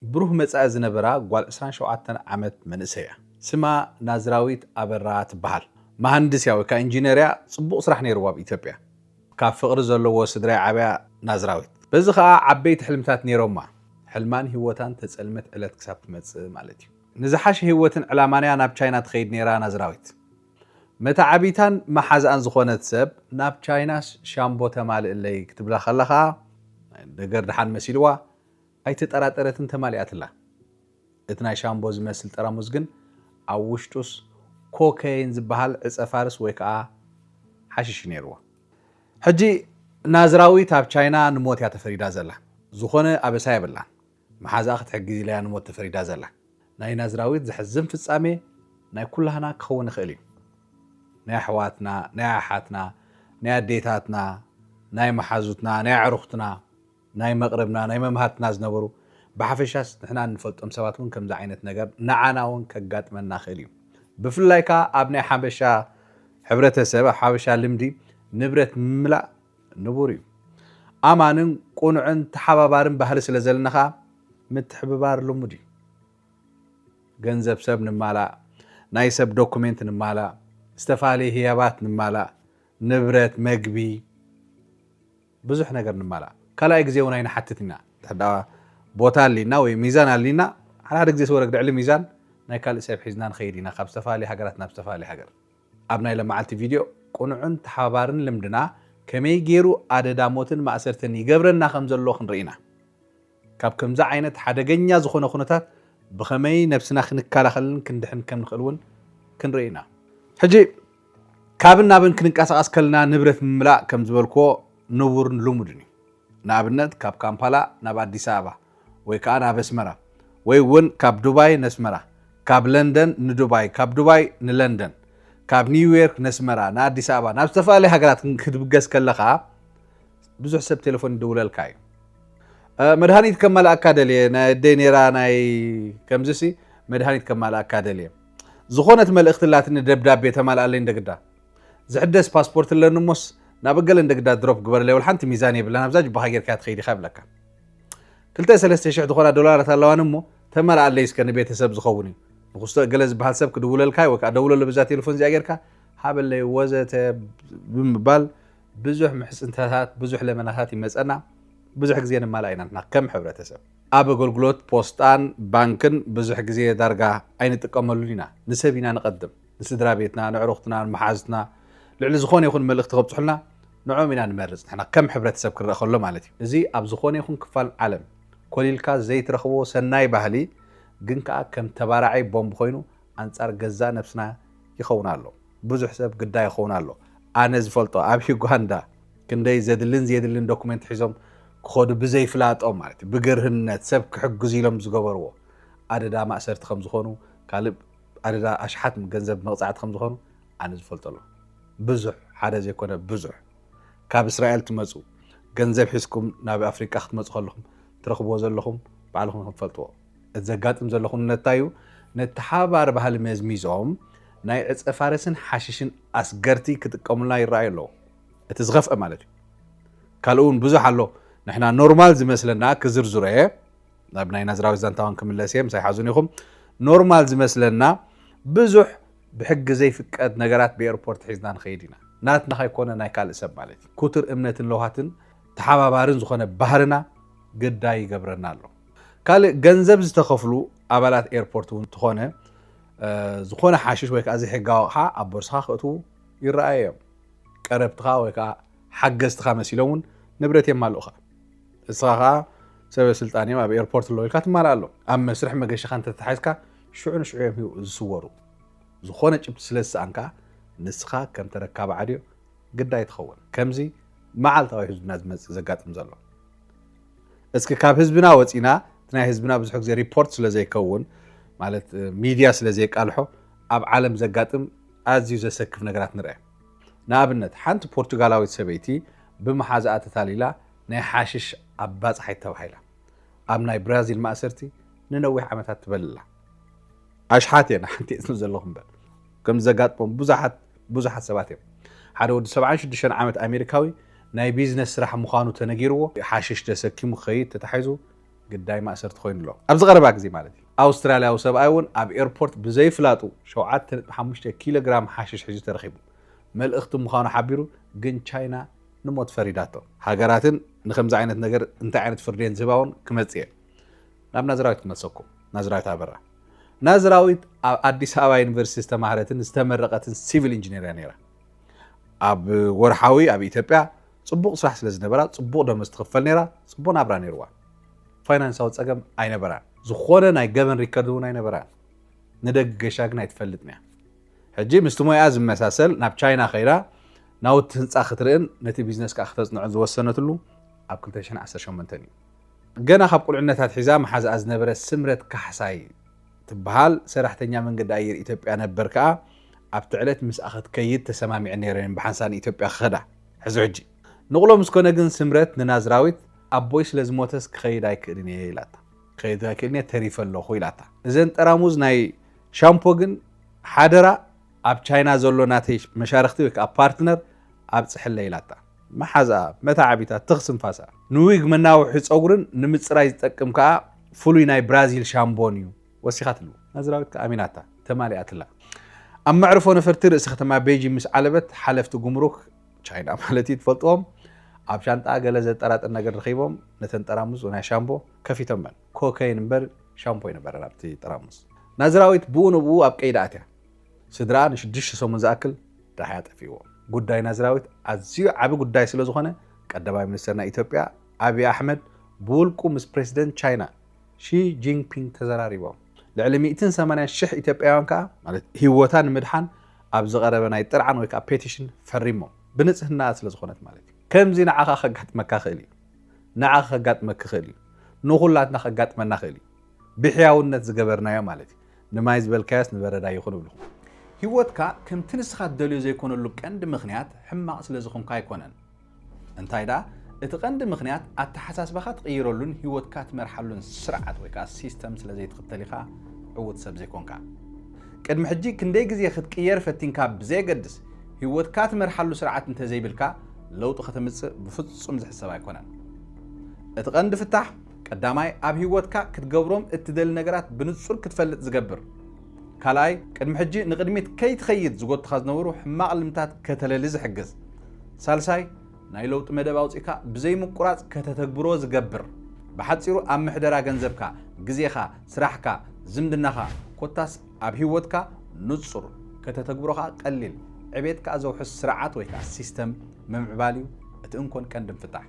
ብሩህ መጻኢ ዝነበራ ጓል ዕስራን ሸውዓተን ዓመት መንእሰይ'ያ። ስማ ናዝራዊት ኣበራ ትበሃል። መሃንድስ'ያ ወይ ከኣ ኢንጂነር'ያ፣ ጽቡቕ ስራሕ ነይርዋ ኣብ ኢትዮጵያ። ካብ ፍቕሪ ዘለዎ ስድራ'ያ ዓብያ ናዝራዊት። በዚ ከኣ ዓበይቲ ሕልምታት ነይሮማ። ሕልማን ህይወታን ተጸልመት ዕለት ክሳብ ትመጽእ ማለት'ዩ። ንዝሓሸ ህይወትን ዕላማን'ያ ናብ ቻይና ትኸይድ ነይራ ናዝራዊት። መተዓብይታን መሓዝኣን ዝኾነት ሰብ ናብ ቻይናስ ሻምቦ ተማልእለይ ክትብላ ከላ ከኣ፣ ነገር ደሓን መሲልዋ፣ ኣይተጠራጠረትን ተማሊኣትላ። እቲ ናይ ሻምቦ ዝመስል ጠራሙዝ ግን ኣብ ውሽጡስ ኮከይን ዝበሃል ዕጸ ፋርስ ወይ ከኣ ሓሽሽ እዩ ነይርዎ። ሕጂ ናዝራዊት ኣብ ቻይና ንሞት እያ ተፈሪዳ ዘላ። ዝኾነ ኣበሳ የብላን። መሓዝኣ ክትሕግዝ ኢላ'ያ ንሞት ተፈሪዳ ዘላ። ናይ ናዝራዊት ዘሕዝን ፍጻሜ ናይ ኩላህና ክኸውን ይኽእል እዩ። ናይ ኣሕዋትና፣ ናይ ኣሓትና፣ ናይ ኣዴታትና፣ ናይ መሓዙትና፣ ናይ ኣዕሩኽትና፣ ናይ መቕርብና ናይ መማህርትና ዝነበሩ ብሓፈሻስ ንሕና እንፈልጦም ሰባት ውን ከምዚ ዓይነት ነገር ንዓና ውን ከጋጥመና ይኽእል እዩ ብፍላይ ከኣ ኣብ ናይ ሓበሻ ሕብረተሰብ ኣብ ሓበሻ ልምዲ ንብረት ምምላእ ንቡር እዩ ኣማንን ቁኑዕን ተሓባባርን ባህሊ ስለ ዘለና ከኣ ምትሕብባር ልሙድ እዩ ገንዘብ ሰብ ንማላእ ናይ ሰብ ዶኩሜንት ንማላእ ዝተፋለየ ህያባት ንማላእ ንብረት መግቢ ብዙሕ ነገር ንማላእ ካልኣይ ግዜ ውን ኣይንሓትት ኢና እንተ ቦታ ኣሊና ወይ ሚዛን ኣሊና ሓደ ሓደ ግዜስ ወረግ ልዕሊ ሚዛን ናይ ካልእ ሰብ ሒዝና ንኸይድ ኢና ካብ ዝተፋላለየ ሃገራት ናብ ዝተፋላለየ ሃገር ኣብ ናይ ለማዓልቲ ቪድዮ ቁኑዕን ተሓባባርን ልምድና ከመይ ጌሩ ኣደዳ ሞትን ማእሰርትን ይገብረና ከም ዘሎ ክንርኢ ኢና። ካብ ከምዚ ዓይነት ሓደገኛ ዝኾነ ኩነታት ብኸመይ ነብስና ክንከላኸልን ክንድሕን ከም ንኽእል እውን ክንርኢ ኢና። ሕጂ ካብን ናብን ክንንቀሳቐስ ከለና ንብረት ምምላእ ከም ዝበልክዎ ንቡርን ልሙድን እዩ። ንኣብነት ካብ ካምፓላ ናብ ኣዲስ ኣበባ ወይ ከኣ ናብ ኣስመራ ወይ እውን ካብ ዱባይ ነስመራ፣ ካብ ለንደን ንዱባይ፣ ካብ ዱባይ ንለንደን፣ ካብ ኒውዮርክ ነስመራ፣ ንኣዲስ ኣበባ ናብ ዝተፈላለያ ሃገራት ክትብገስ ከለኻ ብዙሕ ሰብ ቴለፎን ይድውለልካ እዩ መድሃኒት ከማልኣካ ደልየ ናይ ኣደይ ነራ ናይ ከምዚ ሲ መድሃኒት ከማልኣካ ደልየ ዝኾነት መልእኽቲ ላትኒ ደብዳቤ ተማልኣለይ እንደግዳ ዝሕደስ ፓስፖርት ኣለኒ እሞስ ናብ እገለ እንደግዳ ድሮፕ ግበረለይ ወላ ሓንቲ ሚዛን የብለን ኣብዛ ጅባኻ ጌርካ ትኸይድ ኢኻ ይብለካ ክልተ ሰለስተ ሽሕ ዝኾና ዶላራት ኣለዋኒ እሞ ተማልኣለይ እስከ ንቤተሰብ ዝኸውን እዩ ንክስቶ እገለ ዝበሃል ሰብ ክድውለልካ ወይ ከዓ ደውለሉ ብዛ ቴሌፎን እዚኣ ጌርካ ሃበለይ ወዘተ ብምባል ብዙሕ ምሕጽንታታት ብዙሕ ለመናታት ይመጸና ብዙሕ ግዜ ንማላእ ኢና ንሕና ከም ሕብረተሰብ። ኣብ ኣገልግሎት ፖስጣን ባንክን ብዙሕ ግዜ ዳርጋ ኣይንጥቀመሉን ኢና። ንሰብ ኢና ንቐድም። ንስድራ ቤትና፣ ንዕሩኽትና፣ ንመሓዙትና ልዕሊ ዝኾነ ይኹን መልእኽቲ ከብጽሑልና ንዕኦም ኢና ንመርጽ ንሕና ከም ሕብረተሰብ ክንረኣ ከሎ ማለት እዩ። እዚ ኣብ ዝኾነ ይኹን ክፋል ዓለም ኮሊልካ ዘይትረኽቦ ሰናይ ባህሊ ግን ከኣ ከም ተባራዒ ቦምብ ኮይኑ ኣንጻር ገዛእ ነብስና ይኸውን ኣሎ። ብዙሕ ሰብ ግዳ ይኸውን ኣሎ ኣነ ዝፈልጦ ኣብ ዩጋንዳ ክንደይ ዘድልን ዘየድልን ዶኩመንት ሒዞም ክኸዱ ብዘይፍላጦም ማለት ብግርህነት ሰብ ክሕግዙ ኢሎም ዝገበርዎ ኣደዳ ማእሰርቲ ከም ዝኾኑ ካልእ ኣደዳ ኣሽሓት ገንዘብ መቕጻዕቲ ከም ዝኾኑ ኣነ ዝፈልጦ ኣሎ ብዙሕ ሓደ ዘይኮነ ብዙሕ ካብ እስራኤል ትመጹ ገንዘብ ሒዝኩም ናብ ኣፍሪቃ ክትመጹ ከለኹም ትረኽብዎ ዘለኹም ባዕልኹም ክትፈልጥዎ እቲ ዘጋጥም ዘሎ ኩነት እንታይ'ዩ? ነቲ ሓባሪ ባህሊ መዝሚዞም ናይ ዕጸፋርስን ሓሽሽን ኣስገርቲ ክጥቀሙልና ይረኣዩ ኣለዉ። እቲ ዝኸፍኣ ማለት'ዩ። ካልእ'ውን ብዙሕ ኣሎ ንሕና ኖርማል ዝመስለና ክዝርዝሮ'የ፣ ናብ ናይ ናዝራዊ ዛንታ'ውን ክምለስ'የ ምሳይ ሓዙኒ ኢኹም፣ ኖርማል ዝመስለና ብዙሕ ብሕጊ ዘይፍቀድ ነገራት ብኤርፖርት ሒዝና ንኸይድ ኢና። ናትና ከይኮነ ናይ ካልእ ሰብ ማለት'ዩ። ኩቱር እምነትን ለውሃትን ተሓባባርን ዝኾነ ባህልና ግዳይ ይገብረና ኣሎ። ካልእ ገንዘብ ዝተኸፍሉ ኣባላት ኤርፖርት እውን እንተኾነ ዝኾነ ሓሽሽ ወይ ከዓ ዘይሕጋዊ ኣቕሓ ኣብ ቦርሳኻ ክእትዉ ይረኣዩ እዮም። ቀረብትኻ ወይ ከዓ ሓገዝትኻ መሲሎም እውን ንብረት የማልኡኻ። እስኻ ከዓ ሰበ ስልጣን እዮም ኣብ ኤርፖርት ኣለዉ ኢልካ ትማልኣሎም። ኣብ መስርሕ መገሻኻ እንተተታሒዝካ ሽዑ ንሽዑ እዮም ዝስወሩ። ዝኾነ ጭብቲ ስለ ዝሰኣንካ ንስኻ ከም ተረካቢ ዓድዮ ግዳይ ትኸውን። ከምዚ መዓልታዊ ህዝብና ዝመፅእ ዘጋጥም ዘሎ እስኪ ካብ ህዝብና ወፂና እቲ ናይ ህዝብና ብዙሕ ግዜ ሪፖርት ስለ ዘይከውን ማለት ሚድያ ስለ ዘይቃልሖ ኣብ ዓለም ዘጋጥም ኣዝዩ ዘሰክፍ ነገራት ንርአ። ንኣብነት ሓንቲ ፖርቱጋላዊት ሰበይቲ ብመሓዝኣ ተታሊላ ናይ ሓሽሽ ኣባፃሓይት ተባሂላ ኣብ ናይ ብራዚል ማእሰርቲ ንነዊሕ ዓመታት ትበልላ። ኣሽሓት እየን ሓንቲኤን ስለ ዘለኹ እምበር። ከምዚ ዘጋጥሞም ብዙሓት ብዙሓት ሰባት እዮም። ሓደ ወዲ ሰብዓን ሽዱሽተን ዓመት ኣሜሪካዊ ናይ ቢዝነስ ስራሕ ምዃኑ ተነጊርዎ ሓሽሽ ተሰኪሙ ክኸይድ ተታሒዙ ግዳይ ማእሰርቲ ኮይኑ ኣሎ። ኣብዚ ቀረባ ግዜ ማለት እዩ። ኣውስትራልያዊ ሰብኣይ እውን ኣብ ኤርፖርት ብዘይፍላጡ ሸውዓተ ነጥቢ ሓሙሽተ ኪሎ ግራም ሓሽሽ ሒዙ ተረኺቡ። መልእኽቲ ምዃኑ ሓቢሩ ግን ቻይና ንሞት ፈሪዳቶ። ሃገራትን ንከምዚ ዓይነት ነገር እንታይ ዓይነት ፍርዲ እየን ዝህባ እውን ክመጽእ እየ ናብ ናዝራዊት ክመልሰኩም። ናዝራዊት ኣበራ። ናዝራዊት ኣብ ኣዲስ ኣበባ ዩኒቨርሲቲ ዝተማህረትን ዝተመረቐትን ሲቪል ኢንጂነር እያ ነይራ። ኣብ ወርሓዊ ኣብ ኢትዮጵያ ጽቡቕ ስራሕ ስለ ዝነበራ ጽቡቕ ደመወዝ ትኽፈል ነይራ፣ ጽቡቕ ናብራ ነይርዋ። ፋይናንሳዊ ጸገም ኣይነበራን። ዝኾነ ናይ ገበን ሪከርድ እውን ኣይነበራን። ንደግ ገሻ ግን ኣይትፈልጥን እያ። ሕጂ ምስቲ ሞያኣ ዝመሳሰል ናብ ቻይና ከይዳ ናውቲ ህንፃ ክትርእን ነቲ ቢዝነስ ከዓ ክተፅንዖን ዝወሰነትሉ ኣብ 2018 እዩ። ገና ካብ ቁልዕነታ ኣትሒዛ መሓዝኣ ዝነበረት ስምረት ካሕሳይ ትበሃል ሰራሕተኛ መንገዲ ኣየር ኢትዮጵያ ነበር ከኣ ኣብቲ ዕለት ምስኣ ክትከይድ ተሰማሚዐን ነይረን ብሓንሳእ ንኢትዮጵያ ክኸዳ። ሕዚ ሕጂ። ንቕሎ ምስ ኮነ ግን ስምረት ንናዝራዊት ኣቦይ ስለ ዝሞተስ ክኸይድ ኣይክእልን እየ ኢላታ። ክኸይድ ኣይክእልን እየ ተሪፈ ኣለኹ ኢላታ። እዘን ጠራሙዝ ናይ ሻምፖ ግን ሓደራ ኣብ ቻይና ዘሎ ናተይ መሻርኽቲ ወይ ከኣ ፓርትነር ኣብጽሕለይ ኢላታ። መሓዛኣ፣ መተዓቢታ፣ ትኽ ስንፋሳ፣ ንዊግ መናውሒ ጸጉርን ንምጽራይ ዝጠቅም ከኣ ፍሉይ ናይ ብራዚል ሻምቦን እዩ ወሲኻትሉ። ናዝራዊት ከኣ ኣሚናታ፣ ተማሊኣትላ። ኣብ መዕርፎ ነፈርቲ ርእሲ ከተማ ቤይጂን ምስ ዓለበት፣ ሓለፍቲ ጉምሩክ፣ ቻይና ማለት እዩ፣ ትፈልጥዎም፣ ኣብ ሻንጣኣ ገለ ዘጠራጥር ነገር ረኺቦም ነተን ጠራሙዝ ናይ ሻምቦ ከፊቶመን። ኮከይን እምበር ሻምፖ ኣይነበረን ኣብቲ ጠራሙዝ። ናዝራዊት ብኡ ንብኡ ኣብ ቀይዲ ኣትያ። ስድራኣ ንሽዱሽተ ሰሙን ዝኣክል ዳሃያ ጠፊእዎም። ጉዳይ ናዝራዊት ኣዝዩ ዓቢ ጉዳይ ስለዝኾነ ቀዳማይ ሚኒስተር ናይ ኢትዮጵያ ኣብይ ኣሕመድ ብውልቁ ምስ ፕረሲደንት ቻይና ሺ ጂንፒንግ ተዘራሪቦም። ልዕሊ ሚእትን ሰማንያን ሽሕ ኢትዮጵያውያን ከኣ ማለት ህይወታ ንምድሓን ኣብ ዝቐረበ ናይ ጥርዓን ወይ ከኣ ፔቲሽን ፈሪሞም። ብንጽህናኣ ስለዝኾነት ማለት እዩ። ከምዚ ንዓኻ ከጋጥመካ ክእል እዩ። ንዓኺ ከጋጥመኪ ክእል እዩ። ንኹላትና ከጋጥመና ክእል እዩ። ብሕያውነት ዝገበርናዮ ማለት እዩ። ንማይ ዝበልካዮስ ንበረዳ ይኹን እብልኹ። ህይወትካ ከምቲ ንስኻ ትደልዮ ዘይኮነሉ ቀንዲ ምኽንያት ሕማቕ ስለ ዝኾንካ ኣይኮነን። እንታይ ደኣ እቲ ቀንዲ ምኽንያት ኣተሓሳስባኻ ትቕይረሉን ህይወትካ ትመርሓሉን ስርዓት ወይ ከኣ ሲስተም ስለ ዘይትኽተል ኢኻ ዕዉት ሰብ ዘይኮንካ። ቅድሚ ሕጂ ክንደይ ግዜ ክትቅየር ፈቲንካ ብዘየገድስ ህይወትካ ትመርሓሉ ስርዓት እንተዘይብልካ ለውጢ ከተምጽእ ብፍጹም ዝሕሰብ ኣይኮነን። እቲ ቀንዲ ፍታሕ ቀዳማይ፣ ኣብ ህይወትካ ክትገብሮም እትደሊ ነገራት ብንጹር ክትፈልጥ ዝገብር። ካልኣይ፣ ቅድሚ ሕጂ ንቕድሚት ከይትኸይድ ዝጎቱኻ ዝነበሩ ሕማቕ ልምድታት ከተለሊ ዝሕግዝ። ሳልሳይ፣ ናይ ለውጢ መደብ ኣውጺእካ ብዘይምቁራጽ ከተተግብሮ ዝገብር። ብሓጺሩ ኣብ ምሕደራ ገንዘብካ፣ ግዜኻ፣ ስራሕካ፣ ዝምድናኻ ኮታስ ኣብ ህይወትካ ንጹር፣ ከተተግብሮ ከኣ ቀሊል፣ ዕቤት ከኣ ዘውሕስ ስርዓት ወይ ከኣ ሲስተም ምምዕባል እዩ እቲ እንኮን ቀንድን ፍታሕ።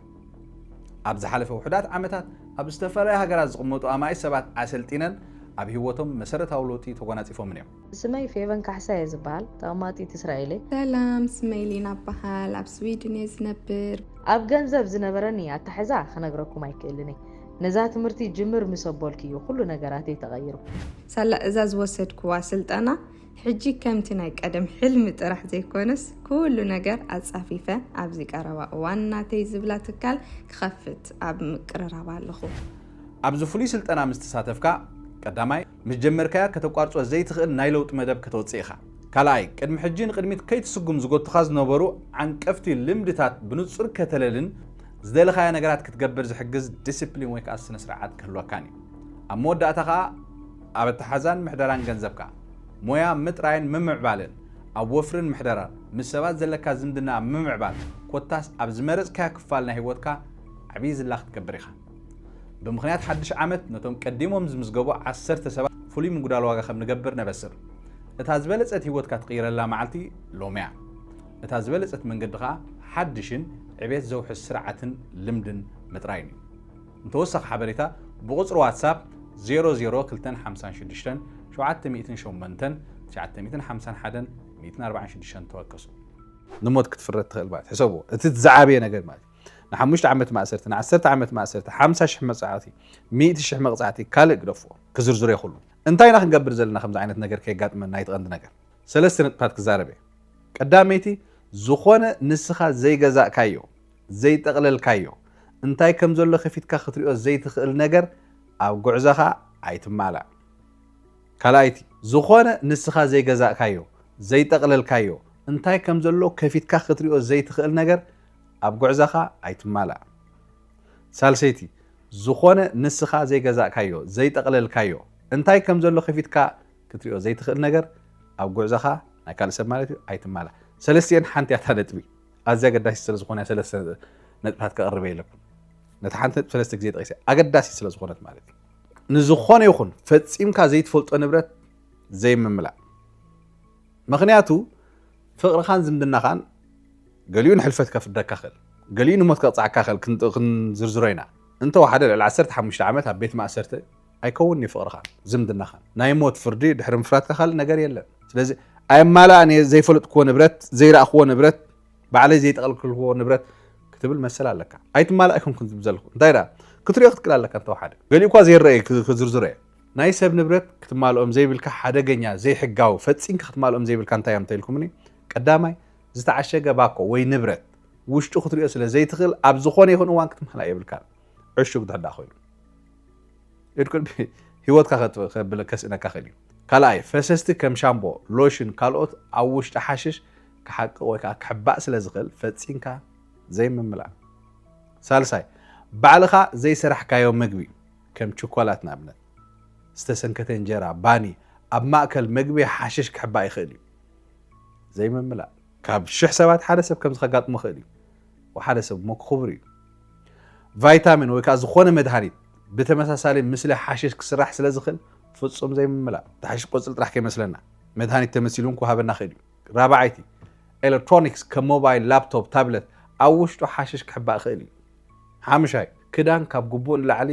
ኣብ ዝሓለፈ ውሑዳት ዓመታት ኣብ ዝተፈላለያ ሃገራት ዝቕመጡ ኣማኢት ሰባት ኣሰልጢነን ኣብ ህይወቶም መሰረታዊ ለውጢ ተጓናጺፎምን እዮም። ስመይ ፌቨን ካሕሳ እየ ዝበሃል ተቐማጢት እስራኤል እየ። ሰላም ስመይ ሊና እበሃል ኣብ ስዊድን እየ ዝነብር። ኣብ ገንዘብ ዝነበረኒ ኣታሕዛ ክነግረኩም ኣይክእልን እየ ነዛ ትምህርቲ ጅምር ምስ ኣቦልኪ እዩ ኩሉ ነገራተይ ተቐይሩ። ሳላ እዛ ዝወሰድክዋ ስልጠና ሕጂ ከምቲ ናይ ቀደም ሕልሚ ጥራሕ ዘይኮነስ ኩሉ ነገር ኣጻፊፈ ኣብዚ ቀረባ እዋን ናተይ ዝብላ ትካል ክኸፍት ኣብ ምቅርራብ ኣለኹ። ኣብዚ ፍሉይ ስልጠና ምስ ተሳተፍካ፣ ቀዳማይ፣ ምስ ጀመርካያ ከተቋርጾ ዘይትኽእል ናይ ለውጢ መደብ ከተውጽእ ኢኻ። ካልኣይ፣ ቅድሚ ሕጂ ንቕድሚት ከይትስጉም ዝጎቱኻ ዝነበሩ ዓንቀፍቲ ልምድታት ብንጹር ከተለልን ዝደለኻያ ነገራት ክትገብር ዝሕግዝ ዲሲፕሊን ወይ ከኣ ስነ-ስርዓት ክህልወካን እዩ። ኣብ መወዳእታ ከኣ፣ ኣብ ኣተሓዛን ምሕደራን ገንዘብካ፣ ሞያ ምጥራይን ምምዕባልን፣ ኣብ ወፍርን ምሕደራን፣ ምስ ሰባት ዘለካ ዝምድና ኣብ ምምዕባል፣ ኮታስ ኣብ ዝመረጽካዮ ክፋል ናይ ህይወትካ ዓብዪ ዝላ ክትገብር ኢኻ። ብምኽንያት ሓድሽ ዓመት ነቶም ቀዲሞም ዝምዝገቡ ዓሰርተ ሰባት ፍሉይ ምጉዳል ዋጋ ከም ንገብር ነበስር። እታ ዝበለጸት ህይወትካ ትቕይረላ መዓልቲ ሎሚ'ያ። እታ ዝበለጸት መንገዲ ከኣ ሓድሽን ዕቤት ዘውሕስ ስርዓትን ልምድን ምጥራይን እዩ። ንተወሳኺ ሓበሬታ ብቑጽሪ ዋትሳፕ ዜሮ ዜሮ ክልተን ሓምሳን ሽዱሽተን ሸውዓተ ሚእትን ሸሞንተን ትሽዓተ ሚእትን ሓምሳን ሓደን ሚእትን ኣርባዓን ሽዱሽተን ተወከሱ። ንሞት ክትፍረድ ትኽእል ማለት ሕሰብዎ እቲ ዝዓበየ ነገር ማለት ንሓሙሽተ ዓመት ማእሰርቲ ንዓሰርተ ዓመት ማእሰርቲ ሓምሳ ሽሕ መጽዓዕቲ ሚእቲ ሽሕ መቕጻዕቲ ካልእ ግደፍዎ ክዝርዝሮ ይኽሉ እንታይ ኢና ክንገብር ዘለና ከምዚ ዓይነት ነገር ከየጋጥመና እቲ ቀንዲ ነገር ሰለስተ ነጥብታት ክዛረብ እየ ቀዳመይቲ ዝኾነ ንስኻ ዘይገዛእካዮ ዘይጠቕለልካዮ፣ እንታይ ከም ዘሎ ከፊትካ ክትሪኦ ዘይትኽእል ነገር ኣብ ጉዕዘኻ ኣይትማላእ። ካልኣይቲ፣ ዝኾነ ንስኻ ዘይገዛእካዮ፣ ዘይጠቕለልካዮ፣ እንታይ ከም ዘሎ ከፊትካ ክትሪኦ ዘይትኽእል ነገር ኣብ ጉዕዘኻ ኣይትማላእ። ሳልሰይቲ፣ ዝኾነ ንስኻ ዘይገዛእካዮ፣ ዘይጠቕለልካዮ፣ እንታይ ከም ዘሎ ከፊትካ ክትሪኦ ዘይትኽእል ነገር ኣብ ጉዕዘኻ፣ ናይ ካልእ ሰብ ማለት እዩ፣ ኣይትማላእ። ሰለስቲኤን ሓንቲ እያ እታ ነጥቢ። ኣዝያ ኣገዳሲት ስለ ዝኾነ ሰለስተ ነጥብታት ከቕርብ የለብን። ነቲ ሓንቲ ነጥብ ሰለስተ ግዜ ጠቒሰ ኣገዳሲት ስለ ዝኾነት ማለት እዩ። ንዝኾነ ይኹን ፈጺምካ ዘይትፈልጦ ንብረት ዘይምምላእ። ምክንያቱ ፍቕርኻን ዝምድናኻን ገሊኡ ንሕልፈት ከፍደካ ክእል፣ ገሊኡ ንሞት ከቕፅዓካ ክእል ክንዝርዝሮ ኢና። እንተወሓደ ልዕሊ 15 ዓመት ኣብ ቤት ማእሰርቲ ኣይከውንን'ዩ ፍቕርኻን ዝምድናኻን። ናይ ሞት ፍርዲ ድሕሪ ምፍራድካ ካልእ ነገር የለን። ስለዚ ኣይማላእን እየ፣ ዘይፈለጥክዎ ንብረት፣ ዘይረኣኽዎ ንብረት፣ ባዕለይ ዘይጠቐልክልክዎ ንብረት ክትብል መሰል ኣለካ። ኣይትማላእ ኣይኮንኩን ዝብል ዘለኹ። እንታይ ደኣ ክትሪኦ ክትክእል ኣለካ እንተወሓደ። ገሊኡኳ ዘይረኣይ ክዝርዝሮ እየ። ናይ ሰብ ንብረት ክትማልኦም ዘይብልካ ሓደገኛ፣ ዘይሕጋዊ፣ ፈጺንካ ክትማልኦም ዘይብልካ እንታይ እዮም እንተኢልኩምኒ፣ ቀዳማይ ዝተዓሸገ ባኮ ወይ ንብረት ውሽጡ ክትሪኦ ስለ ዘይትኽእል ኣብ ዝኾነ ይኹን እዋን ክትማላእ የብልካን ዕሹግ እንተድኣ ኮይኑ። ህይወትካ ከስእነካ ክእል እዩ። ካልኣይ፣ ፈሰስቲ ከም ሻምቦ፣ ሎሽን ካልኦት ኣብ ውሽጢ ሓሽሽ ክሓቅቕ ወይ ከዓ ክሕባእ ስለ ዝኽእል ፈጺምካ ዘይምምላእ። ሳልሳይ፣ ባዕልኻ ዘይሰራሕካዮ ምግቢ ከም ችኮላት ንኣብነት ዝተሰንከተ እንጀራ፣ ባኒ፣ ኣብ ማእከል ምግቢ ሓሽሽ ክሕባእ ይኽእል እዩ። ዘይምምላእ፣ ካብ ሽሕ ሰባት ሓደ ሰብ ከምዚ ከጋጥሞ ይኽእል እዩ። ወሓደ ሰብ እሞ ክኹብር እዩ። ቫይታሚን ወይ ከኣ ዝኾነ መድሃኒት ብተመሳሳሊ ምስሊ ሓሽሽ ክስራሕ ስለ ዝኽእል ፍጹም ዘይምምላእ። እቲ ሓሽሽ ቆጽሊ ጥራሕ ከይመስለና መድሃኒት ተመሲሉ እውን ክወሃበና ይኽእል እዩ። ራብዓይቲ፣ ኤለክትሮኒክስ ከም ሞባይል፣ ላፕቶፕ፣ ታብለት ኣብ ውሽጡ ሓሽሽ ክሕባእ ይኽእል እዩ። ሓምሻይ፣ ክዳን ካብ ግቡእ ንላዕሊ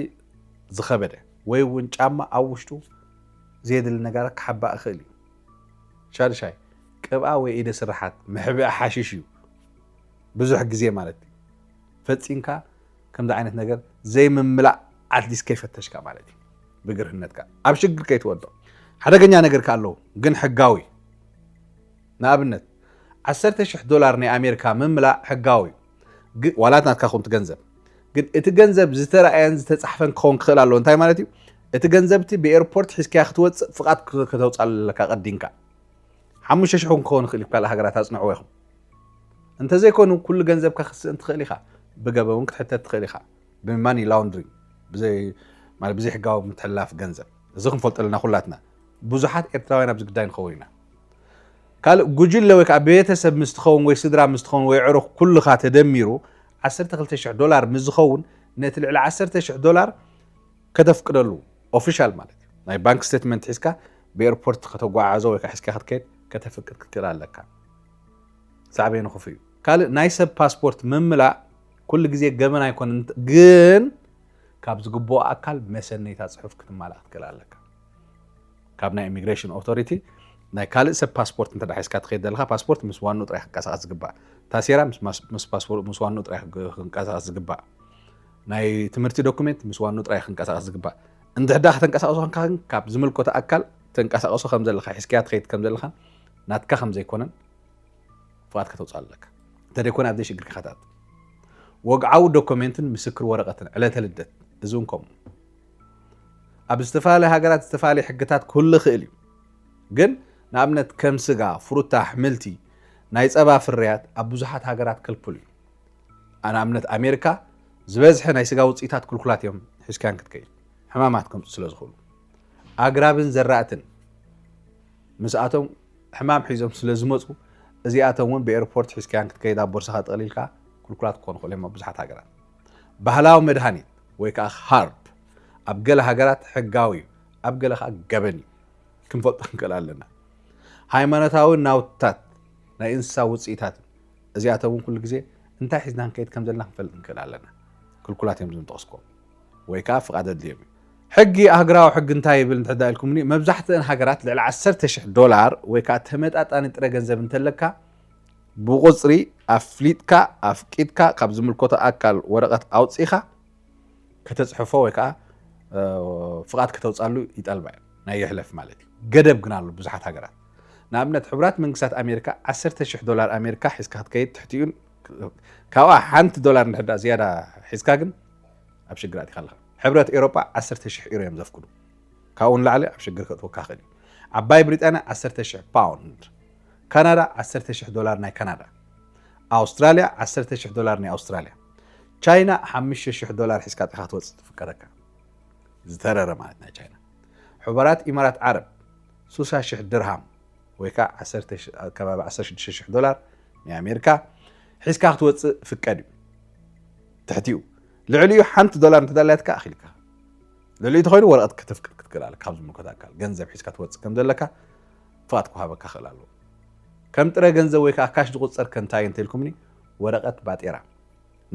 ዝኸበደ ወይ እውን ጫማ ኣብ ውሽጡ ዘየድሊ ነገራት ክሓባእ ይኽእል እዩ። ሻድሻይ፣ ቅብኣ ወይ ኢደ ስርሓት መሕብኢ ሓሽሽ እዩ፣ ብዙሕ ግዜ ማለት እዩ። ፈጺምካ ከምዚ ዓይነት ነገር ዘይምምላእ ኣትሊስት ከይፈተሽካ ማለት እዩ ብግርህነትካ ኣብ ሽግር ከይትወድቕ ሓደገኛ ነገር ከ ኣለዉ ግን ሕጋዊ ንኣብነት ዓሰርተ ሽሕ ዶላር ናይ ኣሜሪካ ምምላእ ሕጋዊ ዋላት ናትካ ኹን ትገንዘብ ግን እቲ ገንዘብ ዝተረኣየን ዝተፃሕፈን ክኸውን ክኽእል ኣለዎ እንታይ ማለት እዩ እቲ ገንዘብቲ ብኤርፖርት ሒዝካያ ክትወፅእ ፍቓድ ከተውፃእ ኣለካ ቀዲንካ ሓሙሽተ ሽሕ እውን ክኸውን ይኽእል እዩ ካልእ ሃገራት ኣጽንዕዎ ኢኹም እንተዘይኮይኑ ኩሉ ገንዘብካ ክትስእን ትኽእል ኢኻ ብገበ እውን ክትሕተት ትኽእል ኢኻ ብማኒ ላውንድሪንግ ብዘይ ማለት ብዘይ ሕጋዊ ምትሕልላፍ ገንዘብ እዚ ክንፈልጦ ኣለና ኩላትና ብዙሓት ኤርትራውያን ኣብዚ ግዳይ ንኸውን ኢና ካልእ ጉጅለ ወይ ከዓ ቤተሰብ ምስ ትኸውን ወይ ስድራ ምስ ትኸውን ወይ ዕሩኽ ኩልኻ ተደሚሩ 12,000 ዶላር ምስ ዝኸውን ነቲ ልዕሊ 10,000 ዶላር ከተፍቅደሉ ኦፊሻል ማለት እዩ ናይ ባንክ ስቴትመንት ሒዝካ ብኤርፖርት ከተጓዓዞ ወይ ሒዝካ ክትከይድ ከተፍቅድ ክትክእል ኣለካ ሳዕቤኑ ክፉ እዩ ካልእ ናይ ሰብ ፓስፖርት ምምላእ ኩሉ ግዜ ገበን ኣይኮነ ግን ካብ ዝግብኦ ኣካል መሰነይታ ፅሑፍ ክትማላእ ክትክእል ኣለካ ካብ ናይ ኢሚግሬሽን ኦቶሪቲ ናይ ካልእ ሰብ ፓስፖርት እንተ ሒዝካ ትኸይድ ዘለካ ፓስፖርት ምስ ዋኑ ጥራይ ክንቀሳቀስ ዝግባእ ታሴራ ምስ ዋኑ ጥራይ ክንቀሳቀስ ዝግባእ ናይ ትምህርቲ ዶኩሜንት ምስ ዋንኡ ጥራይ ክንቀሳቀስ ዝግባእ እንድሕዳ ከተንቀሳቅሶ ኮንካ ግን ካብ ዝምልኮቶ ኣካል ተንቀሳቀሶ ከምዘለካ ሒዝካያ ትኸይድ ከምዘለካን ናትካ ከምዘይኮነን ፍቃድ ከተውፅእ ኣለካ እንተደይኮነ ኣብዘይ ሽግር ከታት ወግዓዊ ዶኮሜንትን ምስክር ወረቀትን ዕለተ ልደት እዚ እውን ከምኡ ኣብ ዝተፈላለዩ ሃገራት ዝተፈላለዩ ሕግታት ክህሉ ይኽእል እዩ ግን ንኣብነት ከም ስጋ ፍሩታ ኣሕምልቲ ናይ ፀባ ፍርያት ኣብ ብዙሓት ሃገራት ክልኩል እዩ ኣነ ኣብነት ኣሜሪካ ዝበዝሐ ናይ ስጋ ውፅኢታት ክልኩላት እዮም ሒዝካያን ክትከይድ ሕማማት ከምፁ ስለ ዝኽእሉ ኣግራብን ዘራእትን ምስኣቶም ሕማም ሒዞም ስለ ዝመፁ እዚኣቶም እውን ብኤርፖርት ሒዝካያን ክትከይድ ኣብ ቦርሳኻ ጠቕሊልካ ክልኩላት ክኾኑ ይኽእሉ እዮም ኣብ ብዙሓት ሃገራት ባህላዊ መድሃኒት ወይ ከዓ ሃርብ ኣብ ገለ ሃገራት ሕጋዊ እዩ ኣብ ገለ ከዓ ገበን እዩ ክንፈልጦ ንክእል ኣለና ሃይማኖታዊ ናውትታት ናይ እንስሳ ውፅኢታት እዚኣተን እውን ኩሉ ግዜ እንታይ ሒዝና ክንከይድ ከም ዘለና ክንፈልጥ ንክእል ኣለና። ክልኩላት እዮም እዞም ዝጠቐስክዎም ወይ ከኣ ፍቓድ ኣድልዮም እዩ። ሕጊ ኣህግራዊ ሕጊ እንታይ ይብል እንተድኣ ኢልኩምኒ፣ መብዛሕትአን ሃገራት ልዕሊ ዓሰርተ ሽሕ ዶላር ወይ ከኣ ተመጣጣኒ ጥረ ገንዘብ እንተለካ ብቑጽሪ ኣፍሊጥካ ኣፍቂድካ ካብ ዝምልከቶ ኣካል ወረቐት ኣውጺእካ ከተጽሕፎ ወይ ከኣ ፍቓድ ከተውጻሉ ይጠልባ እየን ናይ ይሕለፍ ማለት እዩ። ገደብ ግን ኣሎ ብዙሓት ሃገራት ንኣብነት ሕቡራት መንግስታት ኣሜሪካ ዓሰርተ ሽሕ ዶላር ኣሜሪካ ሒዝካ ክትከይድ ትሕቲኡን ካብኣ ሓንቲ ዶላር እንድሕር ድኣ ዝያዳ ሒዝካ ግን ኣብ ሽግር ኣቲኻ ኣለኻ። ሕብረት ኤሮጳ ዓሰርተ ሽሕ ዩሮ እዮም ዘፍቅዱ ካብኡ ንላዕሊ ኣብ ሽግር ከእትወካ ይኽእል እዩ። ዓባይ ብሪጣንያ ዓሰርተ ሽሕ ፓውንድ፣ ካናዳ ዓሰርተ ሽሕ ዶላር ናይ ካናዳ፣ ኣውስትራልያ ዓሰርተ ሽሕ ዶላር ናይ ኣውስትራልያ፣ ቻይና ሓሙሽተ ሽሕ ዶላር ሒዝካ ጥኻ ክትወጽእ ትፍቀደካ ዝተረረ ማለት ናይ ቻይና። ሕቡራት ኢማራት ዓረብ ሱሳ ሽሕ ድርሃም ወይ ከኣ ዓሰርተ ከባቢ ዓሰርተ ሽዱሽተ ሽሕ ዶላር ናይ ኣሜሪካ ሒዝካ ክትወጽእ ፍቀድ እዩ ትሕቲኡ ልዕሊኡ ሓንቲ ዶላር እንተዳላያትካ ኣኺልካ ልዕሊኡ ተኾይኑ ወረቐት ከተፍቅድ ክትክእል ኣለካ ካብ ዝምልከት ኣካል ገንዘብ ሒዝካ ትወጽእ ከም ዘለካ ፍቓድ ክውሃበካ ክእል ኣለዎ ከም ጥረ ገንዘብ ወይ ከዓ ካሽ ዝቁፀር ከንታይ እንተልኩምኒ ወረቀት ባጤራ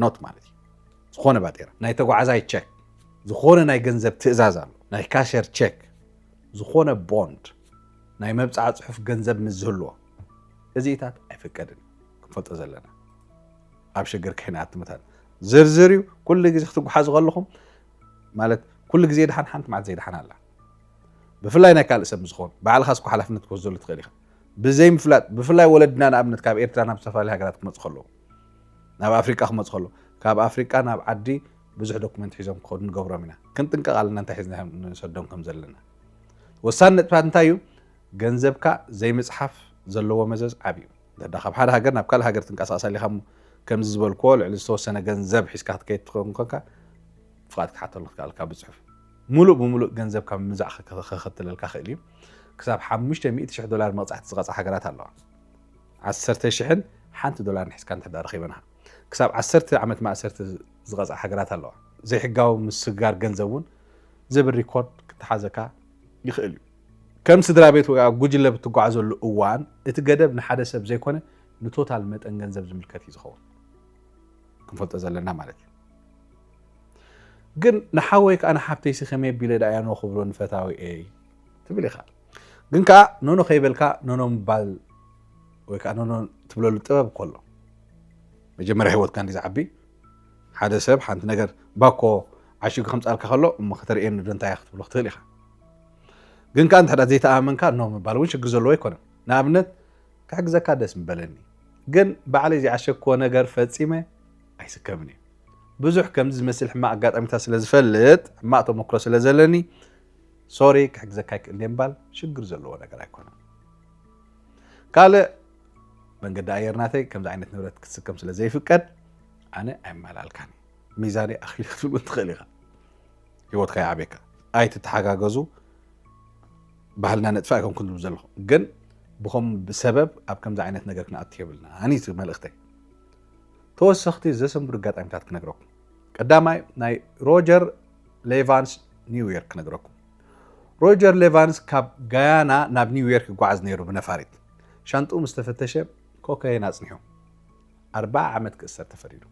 ኖት ማለት እዩ ዝኾነ ባጤራ ናይ ተጓዓዛይ ቸክ ዝኾነ ናይ ገንዘብ ትእዛዝ ኣሎ ናይ ካሸር ቸክ ዝኾነ ቦንድ ናይ መብጽዓ ጽሑፍ ገንዘብ ምስ ዝህልዎ እዚኢታት ኣይፍቀድን እዩ ክንፈልጦ ዘለና ኣብ ሽግር ክሕንያት ምታት ዝርዝር እዩ ኩሉ ግዜ ክትጓሓዙ ከለኹም ማለት ኩሉ ግዜ ድሓን ሓንቲ መዓልቲ ዘይድሓን ኣላ ብፍላይ ናይ ካልእ ሰብ ዝኸውን ባዕልካ ስኳ ሓላፍነት ክትወስደሉ ትኽእል ኢኻ ብዘይምፍላጥ ብፍላይ ወለድና ንኣብነት ካብ ኤርትራ ናብ ዝተፈላለዩ ሃገራት ክመፁ ከለዉ ናብ ኣፍሪቃ ክመጹ ከለዉ ካብ ኣፍሪቃ ናብ ዓዲ ብዙሕ ዶኩመንት ሒዞም ክኸዱ ንገብሮም ኢና። ክንጥንቀቕ ኣለና እንታይ ሒዝና ንሰዶም ከም ዘለና። ወሳኒ ነጥብታት እንታይ እዩ? ገንዘብካ ዘይምጽሓፍ ዘለዎ መዘዝ ዓቢ እዩ። እንተ ካብ ሓደ ሃገር ናብ ካልእ ሃገር ትንቀሳቐስ ኣሊኻ እሞ ከምዚ ዝበልክዎ ልዕሊ ዝተወሰነ ገንዘብ ሒዝካ ክትከይድ ትኸውን ኮንካ ፍቓድ ክትሓተሉ ክትከል ኣለካ ብጽሑፍ። ሙሉእ ብሙሉእ ገንዘብ ካብ ምምዛዕ ከኸትለልካ ክእል እዩ። ክሳብ ሓሙሽተ ሚእቲ ሽሕ ዶላር መቕጻዕቲ ዝቐጽዓ ሃገራት ኣለዋ። ዓሰርተ ሽሕን ሓንቲ ዶላርን ሒዝካ እንተድኣ ረኺበንኻ ክሳብ ዓሰርተ ዓመት ማእሰርቲ ዝቐጽዓ ሃገራት ኣለዋ። ዘይሕጋዊ ምስግጋር ገንዘብ እውን ዝብል ሪኮርድ ክተሓዘካ ይኽእል እዩ። ከም ስድራቤት ወይ ኣብ ጉጅለ ኣብ እትጓዓዘሉ እዋን፣ እቲ ገደብ ንሓደ ሰብ ዘይኮነ ንቶታል መጠን ገንዘብ ዝምልከት እዩ ዝኸውን። ክንፈልጦ ዘለና ማለት እዩ። ግን ንሓወይ ከኣ ንሓብተይሲ ከመይ ኣቢለ ደኣ እያ ኖ ክብሎ ንፈታዊኤይ ትብል ኢኻ። ግን ከዓ ኖኖ ከይበልካ ኖኖ ምባል ወይ ከዓ ኖኖ ትብለሉ ጥበብ እኮ ኣሎ። መጀመርያ ሂወትካ እንዲ ዝዓቢ ሓደ ሰብ ሓንቲ ነገር ባኮ ዓሽጉ ከምፃልካ ከሎ እሞ ከተርእየኒ ዶ እንታይ ክትብሎ ክትኽእል ኢኻ። ግን ከዓ እንተ ዘይተኣመንካ ኖ ምባል እውን ሽግር ዘለዎ ኣይኮነን። ንኣብነት ክሕግዘካ ደስ ምበለኒ ግን ባዕለይ ዘይዓሸግክዎ ነገር ፈፂመ ኣይስከምን እዩ። ብዙሕ ከምዚ ዝመስል ሕማቅ ኣጋጣሚታት ስለ ዝፈልጥ ሕማቅ ተመክሮ ስለ ዘለኒ ሶሪ ክሕግዘካ ኣይክእል ድየ ምባል ሽግር ዘለዎ ነገር ኣይኮነን። ካልእ መንገዲ ኣየር ናተይ ከምዚ ዓይነት ንብረት ክትስከም ስለ ዘይፍቀድ ኣነ ኣይመላልካን እዩ ሚዛነይ ኣኽሊ ክትብል እውን ትኽእል ኢኻ ሂወትካ ይዓብየካ ኣይትተሓጋገዙ ባህልና ነጥፋ ኣይኮን ክንብል ዘለኹ ግን ብከም ብሰበብ ኣብ ከምዚ ዓይነት ነገር ክንኣቱ የብልና ኣኒቲ መልእኽተይ ተወሰኽቲ ዘሰንብዱ ኣጋጣሚታት ክነግረኩም ቀዳማይ ናይ ሮጀር ሌቫንስ ኒውዮርክ ክነግረኩም ሮጀር ሌቫንስ ካብ ጋያና ናብ ኒውዮርክ ይጓዓዝ ነይሩ ብነፋሪት ሻንጥኡ ምስ ተፈተሸ ኮካይን ኣጽኒሑ ኣርባዓ ዓመት ክእሰር ተፈሪዱ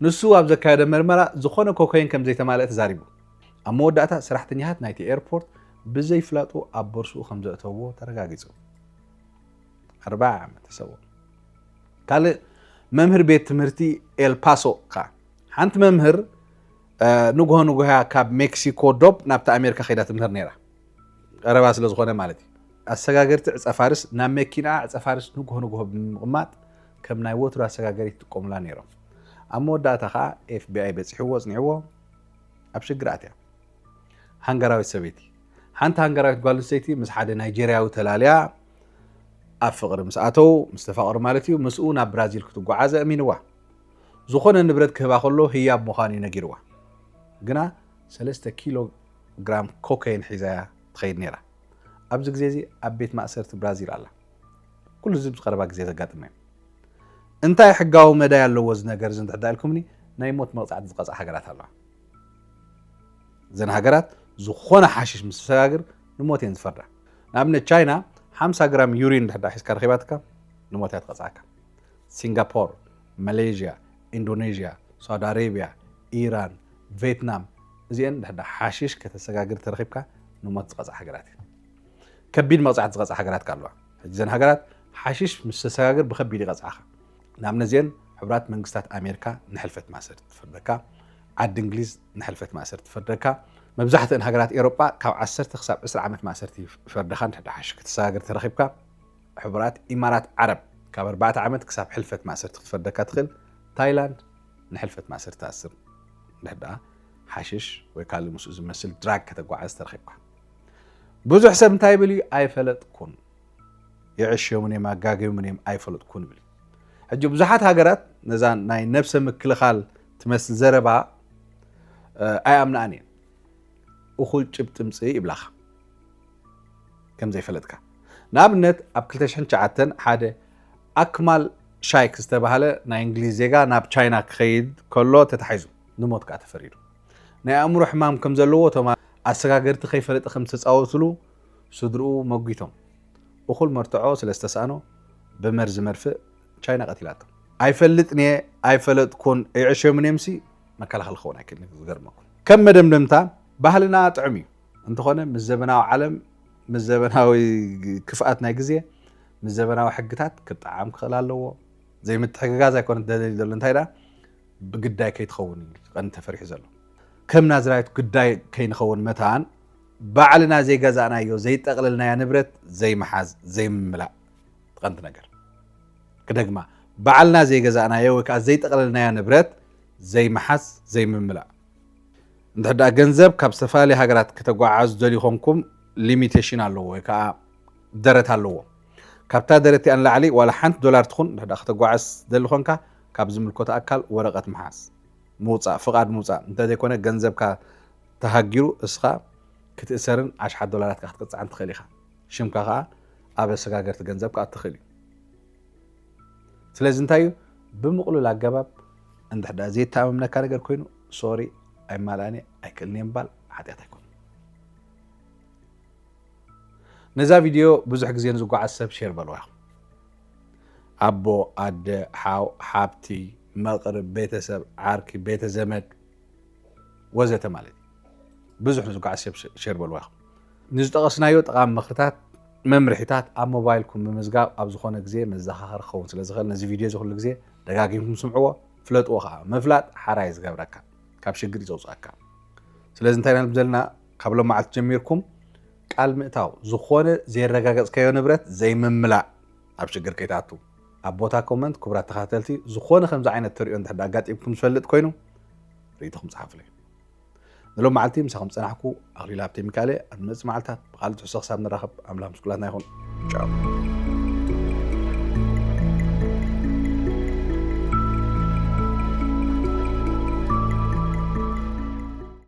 ንሱ ኣብ ዘካየደ መርመራ ዝኾነ ኮካይን ከም ዘይተማልአ ተዛሪቡ ኣብ መወዳእታ ሰራሕተኛታት ናይቲ ኤርፖርት ብዘይፍላጡ ኣብ ቦርስኡ ከም ዘእተዎ ተረጋጊጹ ኣርባዓ ዓመት ተሰዎ ካልእ መምህር ቤት ትምህርቲ ኤልፓሶ ከኣ ሓንቲ መምህር ንግሆ ንግሆያ ካብ ሜክሲኮ ዶብ ናብቲ ኣሜሪካ ከይዳ ትምህር ነይራ ቀረባ ስለ ዝኾነ ማለት እዩ ኣሰጋገርቲ ዕፀፋርስ ናብ መኪና ዕፀፋርስ ንግሆ ንግሆ ብምቕማጥ ከም ናይ ወትሩ ኣሰጋገሪ ትጥቀሙላ ነይሮም ኣብ መወዳእታ ከዓ ኤፍቢኣይ በፂሕዎ ፅኒዕዎ ኣብ ሽግር ኣትያ ሃንጋራዊት ሰበይቲ ሓንቲ ሃንጋራዊት ጓል ኣንስተይቲ ምስ ሓደ ናይጀርያዊ ተላልያ ኣብ ፍቕሪ ምስ ኣተው ምስ ተፋቕሩ ማለት እዩ ምስኡ ናብ ብራዚል ክትጓዓዝ ኣእሚንዋ ዝኾነ ንብረት ክህባ ከሎ ህያብ ምዃኑ እዩ ነጊርዋ ግና ሰለስተ ኪሎ ግራም ኮከይን ሒዛያ ትኸይድ ነይራ ኣብዚ ግዜ እዚ ኣብ ቤት ማእሰርቲ ብራዚል ኣላ ኩሉ እዚ ምስ ቀረባ ግዜ ዘጋጥመ እዩ እንታይ ሕጋዊ መዳይ ኣለዎ እዚ ነገር እዚ እንድሕዳ ኢልኩምኒ ናይ ሞት መቕፃዕቲ ዝቐፅዓ ሃገራት ኣለዋ እዘን ሃገራት ዝኾነ ሓሽሽ ምስ ሰጋግር ንሞት እየን ዝፈርዳ ንኣብነት ቻይና ሓምሳ ግራም ዩሪን እንድሕዳ ሒዝካ ረኺባትካ ንሞት እያ ትቐጽዓካ። ሲንጋፖር፣ ማሌዥያ፣ ኢንዶኔዥያ፣ ሳውዲ ኣሬብያ፣ ኢራን፣ ቬትናም እዚኤን እንድሕዳ ሓሺሽ ከተሰጋግር ተረኺብካ ንሞት ዝቐጽዓ ሃገራት እየን። ከቢድ መቕጻዕቲ ዝቐጽዓ ሃገራት ከኣ ኣለዋ። ሕጂ እዘን ሃገራት ሓሺሽ ምስ ተሰጋግር ብከቢድ ይቐጽዓኻ። ናብነዜን ሕቡራት መንግስታት ኣሜርካ ንሕልፈት ማእሰርቲ ትፍርደካ፣ ዓዲ እንግሊዝ ንሕልፈት ማእሰርቲ ትፈርደካ፣ መብዛሕትእን ሃገራት ኤሮጳ ካብ ዓሰርተ ክሳብ ዕስራ ዓመት ማእሰርቲ ይፈርደኻ እንድሕዳ ሓሽ ክተሰጋግር ተረኺብካ፣ ሕቡራት ኢማራት ዓረብ ካብ ኣርባዕተ ዓመት ክሳብ ሕልፈት ማእሰርቲ ክትፈርደካ ትኽእል፣ ታይላንድ ንሕልፈት ማእሰርቲ ትኣስር እንድሕዳ ሓሽሽ ወይ ካልእ ምስኡ ዝመስል ድራግ ከተጓዓዝ ተረኺብካ። ብዙሕ ሰብ እንታይ ይብል እዩ ኣይፈለጥኩን። የዕሽዮምን እዮም ኣጋግዮምን እዮም ኣይፈለጥኩን ይብል ሕጂ ብዙሓት ሃገራት ነዛ ናይ ነብሰ ምክልኻል ትመስል ዘረባ ኣይኣምናኣን እየን እኹል ጭብጢ ምፅኢ ይብላኻ ከምዘይፈለጥካ ንኣብነት ኣብ 209 ሓደ ኣክማል ሻይክ ዝተባሃለ ናይ እንግሊዝ ዜጋ ናብ ቻይና ክኸይድ ከሎ ተታሒዙ ንሞት ከዓ ተፈሪዱ ናይ ኣእምሮ ሕማም ከም ዘለዎ እቶም ኣሰጋገርቲ ከይፈለጠ ከም ዝተፃወትሉ ስድርኡ መጒቶም። እኹል መርትዖ ስለ ዝተሳእኖ ብመርዚ መድፍእ ቻይና ቀቲላቶ። ኣይፈልጥን'የ ኣይፈለጥኩን ኣይዕሸምን'የምሲ መከላኸሊ ክኸውን ኣይክእልን እዩ ዝገርመኩም። ከም መደምደምታ ባህልና ጥዑም እዩ እንተኾነ ምስ ዘበናዊ ዓለም ምስ ዘበናዊ ክፍኣት ናይ ግዜ ምስ ዘበናዊ ሕግታት ክጠዓም ክኽእል ኣለዎ። ዘይምትሕግጋዝ ኣይኮነት ደለሊ ዘሎ እንታይ ደኣ ብግዳይ ከይትኸውን እዩ ቀንዲ ተፈሪሑ ዘሎ ከም ናዝራይት ግዳይ ከይንኸውን መታን ባዕልና ዘይገዛእናዮ ዘይጠቕልልናያ ንብረት ዘይምሓዝ ዘይምምላእ ትቐንዲ ነገር ክደግማ ባዕልና ዘይገዛእናዮ ወይ ከዓ ዘይጠቕልልናያ ንብረት ዘይምሓዝ ዘይምምላእ እንድሕዳ ገንዘብ ካብ ዝተፈላለዩ ሃገራት ከተጓዓዙ ደልዩ ኮንኩም ሊሚቴሽን ኣለዎ ወይ ከዓ ደረት ኣለዎ ካብታ ደረት እቲኣ ንላዕሊ ዋላ ሓንቲ ዶላር ትኹን እንድሕዳ ከተጓዓዝ ደሊ ኮንካ ካብ ዝምልኮት ኣካል ወረቐት ምሓዝ ምውፃእ ፍቓድ ምውፃእ እንተዘይኮነ ገንዘብካ ተሃጊሩ እስኻ ክትእሰርን ኣሽሓት ዶላራትካ ክትቅጻዕን ትኽእል ኢኻ። ሽምካ ከኣ ኣብ ኣሰጋገርቲ ገንዘብ ክኣቱ ይኽእል እዩ። ስለዚ እንታይ እዩ ብምቕሉል ኣገባብ እንድሕር ደኣ ዘየተኣማምነካ ነገር ኮይኑ ሶሪ ኣይማልኣን እየ ኣይክእልን እየ ምባል ሓጢኣት ኣይኮነ ነዛ ቪድዮ ብዙሕ ግዜ ንዝጓዓዝ ሰብ ሼር በልዋ ኢኹም ኣቦ ኣደ ሓው ሓብቲ መቕርብ ቤተሰብ ዓርኪ ቤተ ዘመድ ወዘተ ማለት እዩ። ብዙሕ ንዝጓዓዝ ሰብ ሼር በልዋ ኢኹም። ንዝጠቐስናዮ ጠቓሚ ምኽርታት መምርሒታት ኣብ ሞባይልኩም ምምዝጋብ ኣብ ዝኾነ ግዜ መዘኻኸሪ ክኸውን ስለ ዝኽእል ነዚ ቪድዮ እዚ ኩሉ ግዜ ደጋጊምኩም ስምዕዎ ፍለጥዎ ከዓ ምፍላጥ ሓራይ ዝገብረካ ካብ ሽግር እዩ ዘውፅኣካ ስለዚ እንታይ ናብ ዘለና ካብ ሎም መዓልቲ ጀሚርኩም ቃል ምእታው ዝኾነ ዘይረጋገፅካዮ ንብረት ዘይምምላእ ኣብ ሽግር ከይትኣቱ ኣብ ቦታ ኮመንት ክቡራት ተኸታተልቲ ዝኾነ ከምዚ ዓይነት ተሪኦ እንድሕር ኣጋጢምኩም ዝፈልጥ ኮይኑ ርእይቶኹም ጸሓፉለይ ንሎም መዓልቲ ምሳኹም ዝጸናሕኩ ኣኽሊል ሃብተ ሚካኤል ኣብ ንመጽእ መዓልትታት ብቓል ትሕሶ ክሳብ ንራኸብ ኣምላኽ ምስ ኩላትና ይኹን ጫው